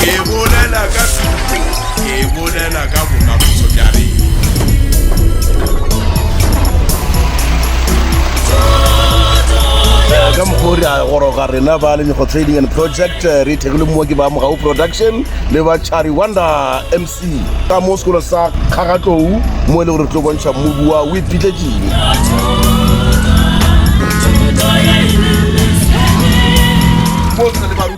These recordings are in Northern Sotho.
Ke bolela ka thuto, ke bolela ka bokamoso bja rena. ka mokgwa o re a goroga rena ba lenyogo trading and project eh, re ithekile mmoa ke ba mogau production le ba chari wonder mc ka mo sekolo sa kgagatlou mo e le gore re tlo bontšha mobi wa o iphitletseng Thuto ya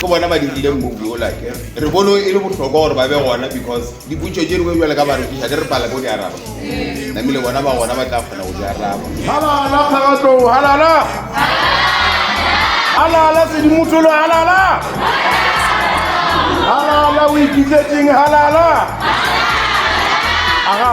ke bona ba dirile move yola ke re bone e le bohlokwa gore ba be gona because dipotso tše dingwe jale ka barekiša di re pala ko di araba namile bona ba gona ba tla kgona go di araba halala kgagatlong halala halala sedimosolo halala halala o ikitsetseng halala aga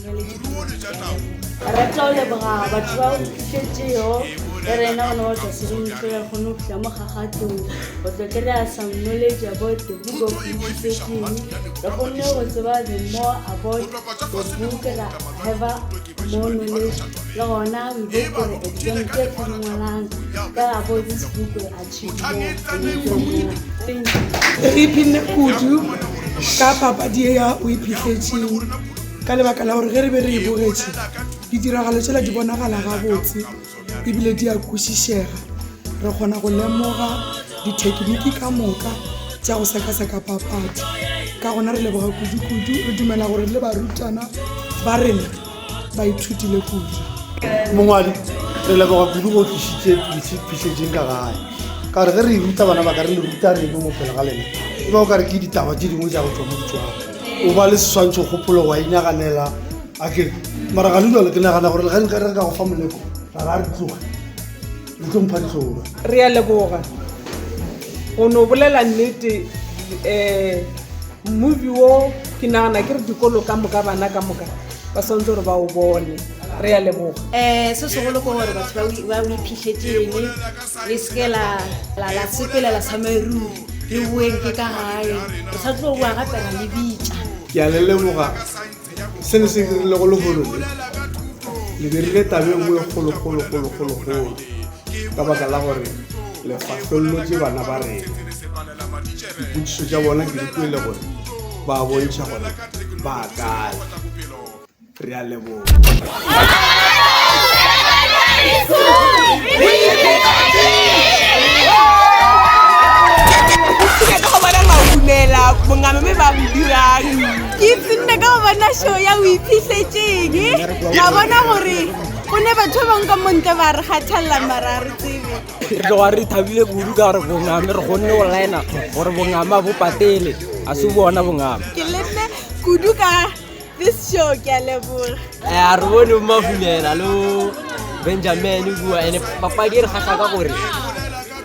re tlo leboga batho ba fišetšego e re ena gona wa tlaseremoso ya kgone go fihla mo kgagatong go tlo kry-a some knowledge about the book of reputation re kgonne go tseba the more about the book ra have more knowledge le gona we go for exam tse fo dingwalang ka about this book Re iphinne kudu ka papadi ye ya O Iphihletseng ka lebaka la gore ge re be re e bogetše, ditiragalo tšela di bonagala gabotse e bile di a kwešišega. Re kgona go lemoga dithekiniki ka moka tša go sekaseka papadi. Ka gona re leboga kudukudu, re dumela gore le barutwana ba rena ba ithutile kudu mongwadi re leboga kudu go tlisitse phišetseng ka gae ka gore ge re e ruta bana ba ka re le ruta reno mo pele ga lena e ba o ka re ke ditaba tse dingwe tsa go tswa mo ditswang o ba le seswantšho kgopolo wa inaganela a ke mara ga le jalo ke nagana gore le ga nka re ka go fa moleko ra ra re tloga le tlo mpha ditlhoba re a leboga go no bolela nnete um Movie wo ke nagana ke re dikolo ka moka bana ka moka ba swantse gore ba o bone re ya leboga um se segolo ke gore batho ba o iphitlhetseng le seke la sepelela sa maeruri le boeng ke ka gae re sa tlo boa gape ra le bitša ke a le leboga Se le se dirilego lehono le, le dirile taba e nngwe e kgolokgolokgolokgolokgolo ka baka la gore le fahlollotše bana ba rena. Dipotšišo tša bona ke di kwele gore ba a bontšha gore ba kae. Re a leboga. Ke ka go bona maumela bongame me ba bo dirang. ke tsinne ka go bona show ya o iphitlhetseng ka bona gore go ne batho ba bangwe ka montle ba re kgathalela mara re tsebe re tloga re thabile kudu ka gore bongame re kgonne go lina gore bongame a bo patele a se bona bongame ke lenne kudu ka this show ke a leboga a re bone bomafulela lo benjamin kua ene papadi e re kgatlha ka gore